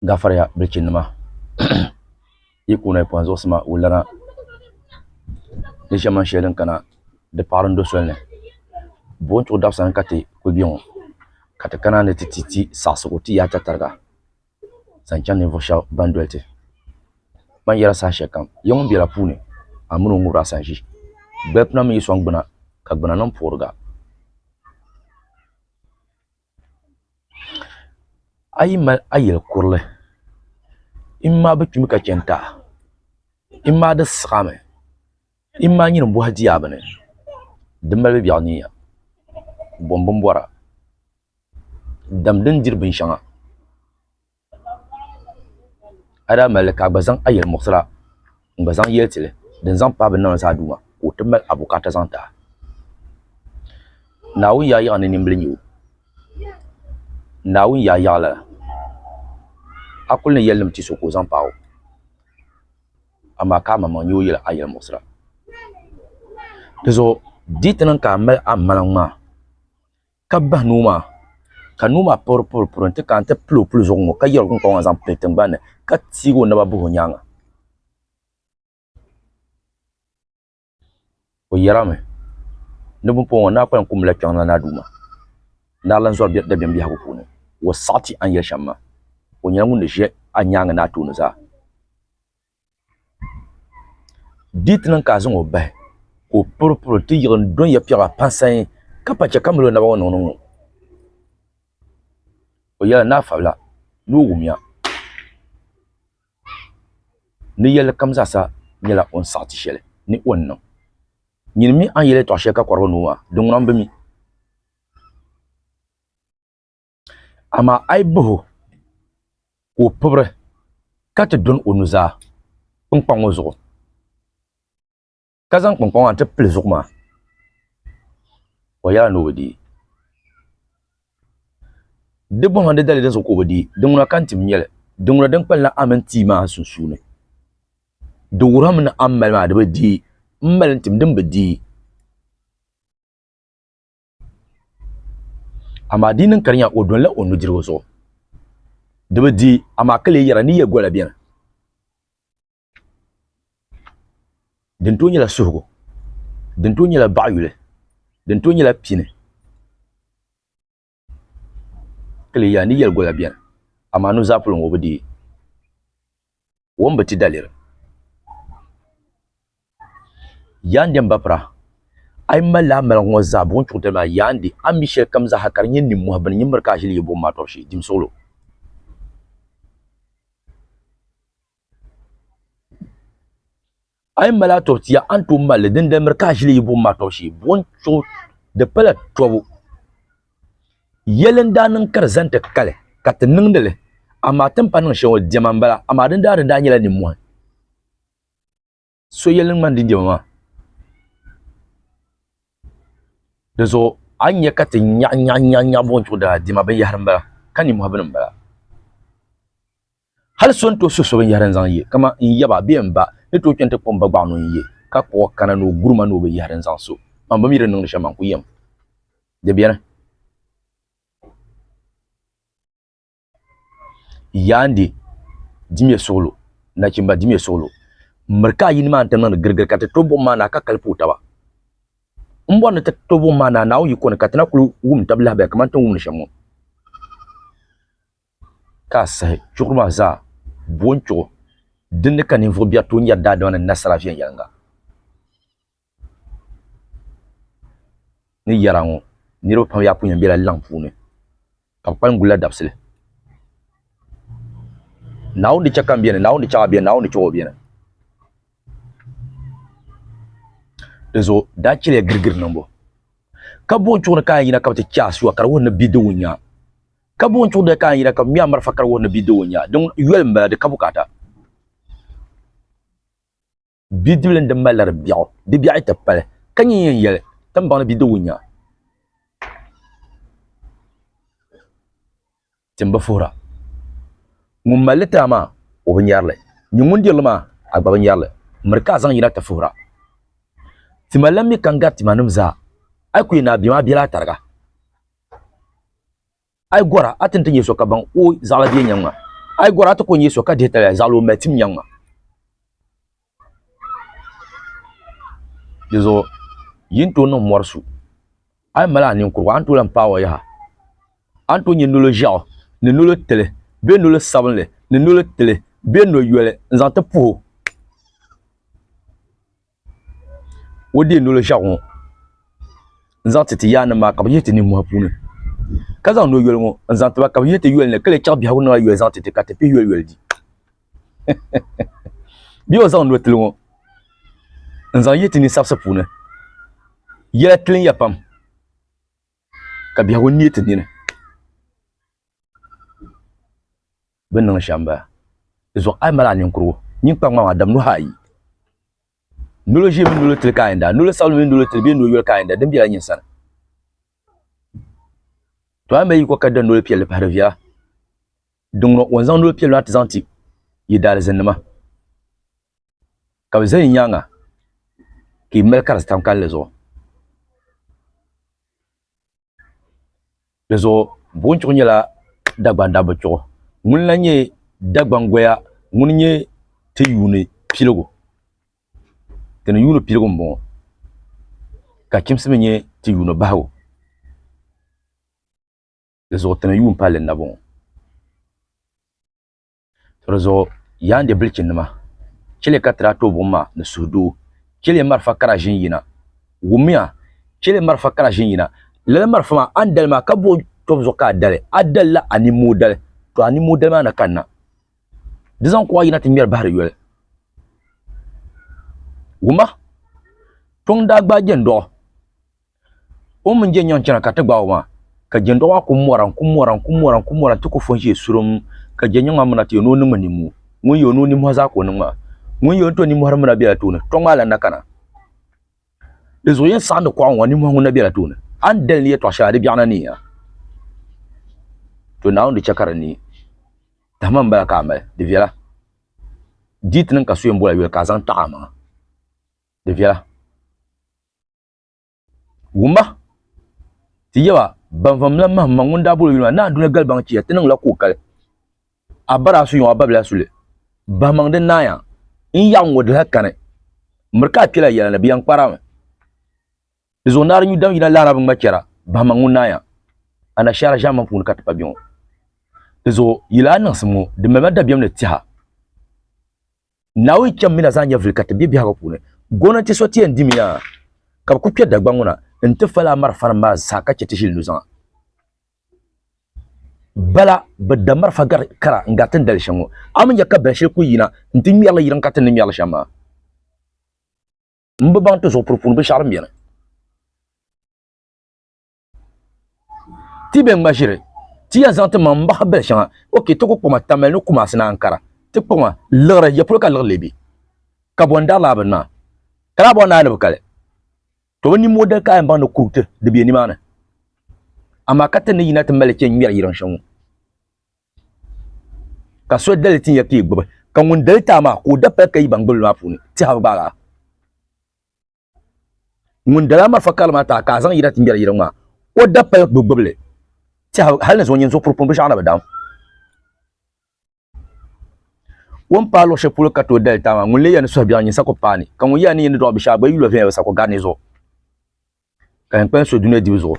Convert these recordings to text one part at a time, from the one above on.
gafariya bilichinima yi kuli lahi kpuɣi zuɣusi maa wullana di ʒe man shɛli din kana di paɣiri n-do soli ni buɣim n-tuhi dabisili ni ka ti kuli be ŋɔ ka ti kana ni ti ti ti saɣisigi ti yaai tatariga zaŋ chaŋ ninvuɣ shɛba ban doli ti bɛ ni yɛra saha shɛli kam ya ŋun bela puuni a mini o ŋubiri a sanʒi gbal pina mi yi sɔŋ gbuna ka gbuna niŋ puɣiriga A yi mali a yili kurili, i mma bi kpimi ka chani taha, i mma di saɣimi, i mma nyini bɔhi di yaa bini, di malibu biɛɣu ni ya, bɔm bini bɔra, dam din diri binshɛŋa. a daa mali li ka a gba zaŋ a yɛlimuɣisira n-gba zaŋ yɛli ti li din zaŋ paai bɛ ni niŋ li zaa Duuma ka o ti mali a bukaata zaŋ ti a. Naawuni yaayaɣi ni nimbila nyu o. Naawuni yaayaɣi lala, a kuli ni yɛlinim ti so ka o zaŋ paai o, amaa ka amaŋmaŋ nyu o yɛli a yɛlimuɣisira. Dinzuɣu di yi ti niŋ ka a mali amaŋmaŋ maa, ka bahi nuu maa ka nuu maa puɣiri puɣiri puɣiri n-ti kana ti pili o puli zuɣu ŋɔ ka yɛri o kuŋkɔŋ maa zaŋ pili tiŋgbani ni ka teegi o naba bahi o nyaaŋa o yɛrimi ni bini puɣiri ŋɔ ni a kpalim ku mila kpiɔŋ na ni a Duuma ni a lan zɔri dabiɛm biɛhigu puuni o saɣiti a ni yɛli shɛm maa o nyɛla ŋun ni ʒe a nyaaŋa ni a tooni zaa. Di ti niŋ ka a zaŋ o bahi ka o puri puri ti yiɣi n-do n-ya piɛɣu a pansai ka pa chɛ ka mali o naba ŋɔ niŋdi ŋɔ. O yɛli ni a fabila ni o wumya ni yɛlli kam zaasa nyɛla o ni saɣi ti shɛli ni o ni niŋ. Nyini mi a ni yɛli yɛtɔɣ shɛli ka kɔrigi ni o maa, di ŋuna m-bi mi. Amaa a yi bah o, ka o pibri ka ti dɔni o nuzaa kpiŋkpaŋ ŋɔ zuɣu, ka zaŋ kpiŋkpaŋ maa n-ti pili zuɣu maa, o yɛla ni o bi di. Di bɔhima ni di dali dinzuɣu ka o bi di, di ŋuna ka n-tim nyɛli, di ŋuna din kpalim a mini tia maa sunsuuni. Di wuhirimi ni a ni mali maa di bi di, m mali n-tim din bi di. Amaa di yi niŋ ka di nya o donila o nudirigu zuɣu, di bi di, amaa ka lee yɛra, Ni yɛ gola beni. Din tooi nyɛla suhigu, din tooi nyɛla baɣiyuli, din tooi nyɛla pini, ka lee yɛra, Ni yɛli gola beni, amaa nuzaa polo ŋɔ o bi di. wom bi ti daliri. Yaandi m bapira, a yi malila a maligu ŋɔ zaa buɣim chuɣu tali maa, yaandi a ni mi shɛlikam zaa ha ka di nyɛ nimmɔhi bini nyin miri ka a ʒili yi buɣim maa tɔbu shee, dimsuɣilo. A yi mali a tɔbu tiya, a ni tooi mali li, dindali miri ka a ʒili yi buɣim maa tɔbu shee. Buɣim chuɣu di pala tɔbu. Yɛli n-daa niŋ ka di zani ti kali, ka ti niŋdi li, amaa ti ni pa niŋ shɛŋa diɛma m-bala, amaa din daa di daa nyɛla nimmɔhi. So yɛli ni ŋmani din diɛma maa. Di zuɣu a ni nya ka ti nyaɣi nyaɣi nyaɣi buɣim chuɣu daa diɛma binyɛhiri m-bala, ka nimmɔhi bini m-bala. Hal so ni tooi suhi so binyɛhiri n-zaŋ ye, kaman n yaba bee m ba, ni tooi chani ti kpuɣi m ba gbaɣu ni o ni ye, ka kpuɣi o kana ni o guri ma ni o binyɛhiri n-zaŋ so man. Bɛ mi di niŋdi shɛm man ku yɛm. Di beni. Yaande dimya suɣilo, nachimba dimya suɣilo, m miri ka a yini maa n-ti niŋdi girigiri ka ti to buɣim maa ni a ka kali puhi taba. M bɔri ni ti to buɣim maa ni a Naawuni yiko ni ka ti na kul wum tab lahabaya kaman ti ni wumdi shɛm ŋɔ. ka a sahi chuɣuri maa zaa bo n-chuɣu din ni ka ninvuɣ biɛri tooi nyari daadama ni nasara viɛnyɛliŋga ni yɛra ŋɔ. Niriba pam yaa kuli yɛn bela laŋ puuni ka bɛ kpalim gulila dabisili. Naawuni ni chɛ ka m beni, Naawuni ni chaŋ a beni, Naawuni ni chaŋ o beni. Dinzuɣu daa chɛliya girigiri niŋbu ka bo n-chuɣu ni ka a yɛn yina ka bɛ ti chɛ a sua ka di wuhi ni bidiwunya. Kabu n tuɣi di ka n yira ka bɛ mi a marafa kari wuhi ni bidib o nya. Din yoli m-bala, di ka bukaata. Bidibili n-di mali la di biɛɣu, di biɛɣu ti pali, ka nyin yɛn yɛli, Tiŋbaŋ ni bidib o nya. Tim bi fuhira. Ŋun mali li tira maa, o bi nyari li. Nyin ŋun diri li maa, a gba bi nyari li. Miri ka a zaŋ yina ti fuhira. Tima lan mi ka n gari timanim zaa. A yi ku yɛn ni a bɛ ma, a bela a tariga. Ai gora a ti ni ti nyɛ so ka baŋ o zaɣila bie nyaŋ ma. Ai gora a ti ko nyɛ so ka dihi taliya zaɣila o mali tim nyaŋ ma. Dizuɣu yi ni tooi niŋ mɔri su, a yi mali a ninkurigu a ni tooi lahi paai o yaha. A ni tooi nyɛ nolo ʒiɛɣu ni nolo tili bee nolo sabinli ni nolo tili bee noyoli n-zaŋ ti puhi o. o deei noli ʒiɛɣu ŋo n zaŋ ti ti yaangi nim maa ka bi yihi ti nimmohi puuni ka zaŋ noyoli ŋo n zaŋ tiba ka bi yihi ti yoli ni ka lee chɛɣu biɛhagu niŋla yoli zaŋ ti ti ka ti pihi yoli yoli di bee o zaŋ notili ŋo n zaŋ yihi ti ni sabisi puuni yɛla tiliya pam ka biɛhagu neei ti nini bɛ ni niŋ shɛm m-bala. Di zuɣu a yi mali a ninkurigu nyin kpa ŋmaŋ a dam nuhi ayi, nolo ʒiɛ mini nolo tili ka a yɛn daa, nolo sabinli mini nolo tili bee nolo yoli ka a yɛn daa, din bela nyin sani. To a ni be yi kɔŋ ka da noli piɛlli pahiri viɛla, di ŋuna o ni zaŋ noli piɛlli maa ti zaŋ ti yi daalizannima ka bɛ za yi nyaaŋa ka yi mali karisi tam kalinli zuɣu. Di zuɣu buɣum chuɣu nyɛla Dagban dabba chuɣu ŋuni lahi nyɛ Dagban goya ŋuni nyɛ ti yuuni piligu ti ni yuuni piligu n bɔŋɔ ka chimsi mi nyɛ ti yuuni bahigu di zuɣu ti ni yuun palli n na bɔŋɔ. To di zuɣu, yaandi bilichinima, chɛ li ka ti daa tooi buɣim ma ni suhudoo. Chɛ li marafa kara ʒini yina. Wummiya! Chɛ li marafa kara ʒini yina. Lala marafa maa, a ni dali maa, ka buɣi tɔbu zuɣu ka a dali. A dalila a nimmoo dali, tɔ a nimmoo dali maa na kanna. Di zaŋ kuɣa yina ti ŋmɛri bahi di yoli. Wumma! Kpiɔŋ daa gbaai jɛndɔɣu, O mini je nyaŋ chana ka ti gbaai o maa, ka jɛndɔɣu maa ku mɔra n-ku mɔra n-ku mɔra n-ku mɔra nti ku fo n-ʒe surum ka je nyaŋ maa miri na ti yo ni o niŋmi nimmo. Ŋun yo ni o nimmɔhi zaa ka o niŋ maa. Ŋun yo ni to nimmɔhiri mi na bela tooni, tɔŋ maa lan na kana. Di zuɣu yɛn saɣindi kɔɣu ŋɔ, nimmɔhi ŋun na bela tooni. A ni dali ni yɛtɔɣ shɛli a di biɛɣu na neei a. To Naawuni di chɛ ka di neei. Tahima m-bala ka a mali, di viɛla. Di yi ti niŋ ka so yɛn bol a yoli ka a zaŋ taɣi a maŋa, di viɛla. Wuma ti yaba ban vam la mahim ma ŋun daa bolo yuli maa naa duna galibaŋ chiya ti niŋla koo kali a bara a su yɔŋ a babila suli bahimaŋ di naaya n yaɣi ŋɔ di lahi kani miri ka a kpela yɛla ni bi yɛn kpari a mi di zuɣu naari nyu dam yina laara bi ŋma chɛra bahimaŋ ŋun naaya anashaara ʒɛmmaŋ puuni ka ti pa bɛ ŋɔ di zuɣu yili a niŋsim ŋɔ di malila dabiɛm ni tiha Naawuni chɛm mina zaŋ nyɛ vili ka ti bɛ biɛhigu puuni. Gomnanti so ti yɛn dimi yaa ka bɛ ku kpɛ Dagbaŋ ŋɔ na n-ti fali a marafanim maa zaa ka chɛ ti ʒili nuzaŋa. Bala bɛ da marafa gari kara n-gari ti ni dali shɛm ŋɔ. A mi nya ka bɛn shɛli kul yina nti ŋmɛri li yirim ka ti ni ŋmɛri li shɛm maa. M bi baŋ ti zuɣupuri puuni binshɛɣu din beni. ti bɛ ŋma ʒiri ti ya zaŋ ti maŋ mbahi bili shɛŋa oke ti ku kpɔma tamali ni Kumasi ni Ankara ti kpɔma liɣiri ya polo ka liɣi lebi ka bɔ n-dari laa bini maa ka laa bɔri naai ni bi kali to bi niŋ modɛl ka a yɛn baŋ ni kuriti di be nimaani amaa ka ti ni yina ti mali chɛ ŋmɛri yiriŋ shɛŋa ka so dali ti ya ka yi gbubi ka ŋun dali ti a maa ka o dapali ka yi baŋ gbibili maa puuni tihabu gbaagi a ŋun dala marafa kali maa taa ka a zaŋ yira ti ŋmɛri yiri ŋmaa o da pali gbubi gbubili tɛha hali ni zuɣu nyin zuɣu puripuni binshaɣu na bi daam o ni paai luɣ shɛli polo ka tooi dali taa maa ŋun lee ya ni suhu biɛɣu nyin sa ku paai ni ka ŋun ya ni yi ni dɔɣi binshaɣu gba yi lo viɛnyɛligu sa ku gari ni zuɣu ka yɛn kpalim so dunia dibu zuɣu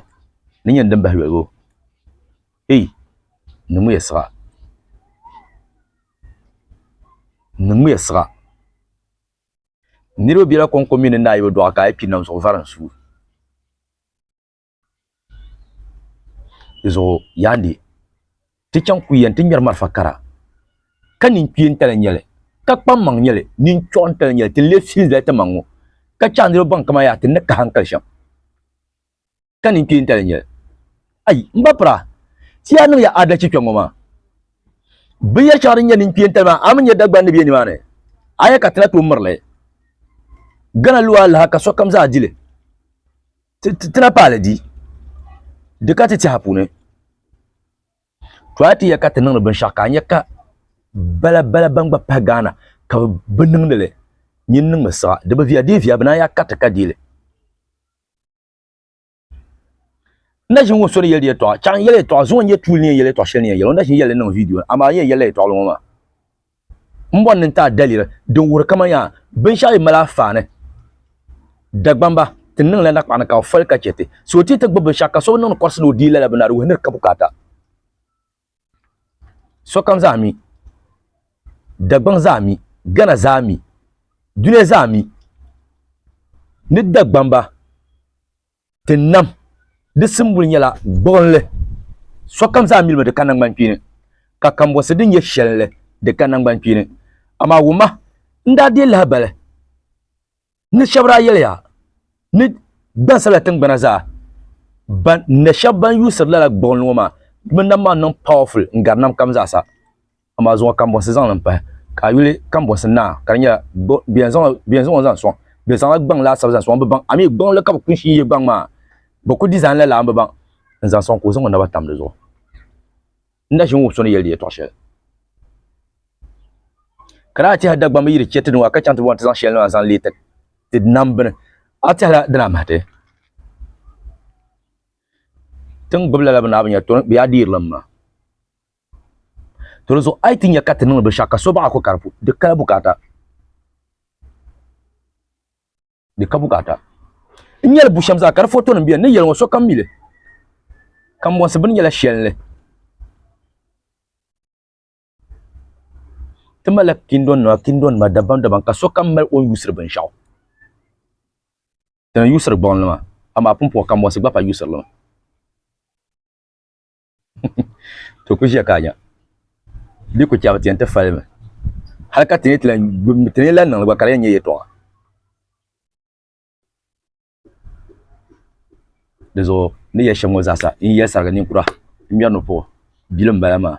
ni nyini din bahi yoligu ei niŋmiya siɣa niŋmiya siɣa Niriba bela kɔŋko mini naayiba dɔɣu ka IP nam zuɣu vari n-su di zuɣu yaandi ti chaŋ ku yɛn ti ŋmɛri malifa kara ka ninkpia n-tali nyɛ li ka kpammaŋ nyɛ li ninchɔɣu n-tali nyɛ li ti leei fili zali timaŋ ŋɔ ka chaŋ niriba ban kama yaa ti ni kahi n-kali shɛm. ka nin kpee n-tali nyɛli. Ayi, m ba pira, ti yaa niŋya aadalichi kpe ŋ-ŋɔ maa. Binyɛr shɛŋa din nyɛ nin kpee n-tali maa, a mi nya Dagban ni be nimaani? A ya ka ti na tooi mir li? Gana lu alaha ka sokam zaa di li. Ti na paai li di, di ka ti tɛha puuni. To a ti ya ka ti niŋdi binshɛɣu ka a nya ka bala bala bɛn gba pahi Gaana ka bɛ bi niŋdi li, nyin niŋmi siɣa. Di bi viya dee viya, bɛ naan ya kariti ka deei li. na ʒin ŋun so ni yɛli yɛltɔɣa chaŋ yɛli yɛltɔɣa zuŋɔ nyɛ tuuli ni yɛn yɛli yɛltɔɣa shɛli ni yɛn yɛli o na ʒin yɛli niŋ vidiyo amaa n yɛn yɛlila yɛltɔɣili ŋɔ maa n bɔri ni n taai daliri din wuhiri kaman yaa binshɛɣu yi mali afaani Dagbamba ti niŋla nakpaɣani ka bɛ foli ka chɛ ti so ti ti gbubi binshɛɣu ka so bi niŋdi kɔrisi ni o deei lala bini na di wuhi ni di ka bukaata Sokam zaa mi, Dagbaŋ zaa mi, Ghana zaa mi, duniya zaa mi ni Dagbamba ti nam di simbuli nyɛla gbuɣinli. Sokam zaa milimi di ka naŋgbankpeeni, ka kambɔnsi din nyɛ shɛlli di ka naŋgbankpeeni. Amaa wumma, n daa deei lahibali. ni shɛba daa yɛliya ni gbansabila tingbana zaa ban na shɛba ban yuusiri lala gbuɣinli ŋɔ maa bɛ nam maa niŋ powerful n gari nam kam zaa sa amaa zuŋɔ kambɔnsi zaŋ li pahi ka a yuli kambɔnsi naa ka di nyɛla bɛ yɛn zaŋ o zaŋ sɔŋ bɛ zaŋla gbaŋ laasabu zaŋ sɔŋ bɛ baŋ amii gbuɣinli ka bɛ kuli shi ye gbaŋ maa bɛ ku design la lala m bi baŋ n zaŋ sɔŋ ka o zaŋ o naba tam di zuɣu. n na ʒini wuhi so ni yɛli di yɛtɔɣ shɛli. Ka daa tɛhi Dagbamba yi di chɛ ti ni wa ka chaŋ ti bɔŋ ti zaŋ shɛli maa zaŋ leei ti ti nam bini, a tɛhila dina mahi ti? Ti ni gbubi lala bɛ naai bi nya tɔni, bɛ yaa deeri la m-ma. To di zuɣu a yi ti nya ka ti niŋdi binshɛɣu ka so baɣi a ko ka di kala bukaata. di ka bukaata n nyɛli bu shɛm zaa ka di foto nim biɛni ni yɛli ŋɔ sokam mili kanbonsi bini nyɛla shɛlini ti malila kindo nima kindo nima dabam dabam ka sokam mali o ni yuusiri binshaɣu ti ni yuusiri gbuɣunli maa amaa pumpɔŋ kanbonsi gba pa yuusiri li maa to ku ʒiya ka a nya di ku chɛmi ti yɛn ti fali mi hali ka ti ni ti lan gbibimi ti ni lan niŋli gba ka di yɛn nyɛ yɛtɔɣa di zuɣu ni yɛli shɛm ŋɔ zaasa n yɛli sarigi ninkura n ŋmɛri ni puɣu bili n bala maa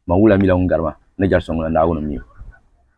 man wula mila ŋun gari ma ni jɛri so ŋuna naawuni n mi o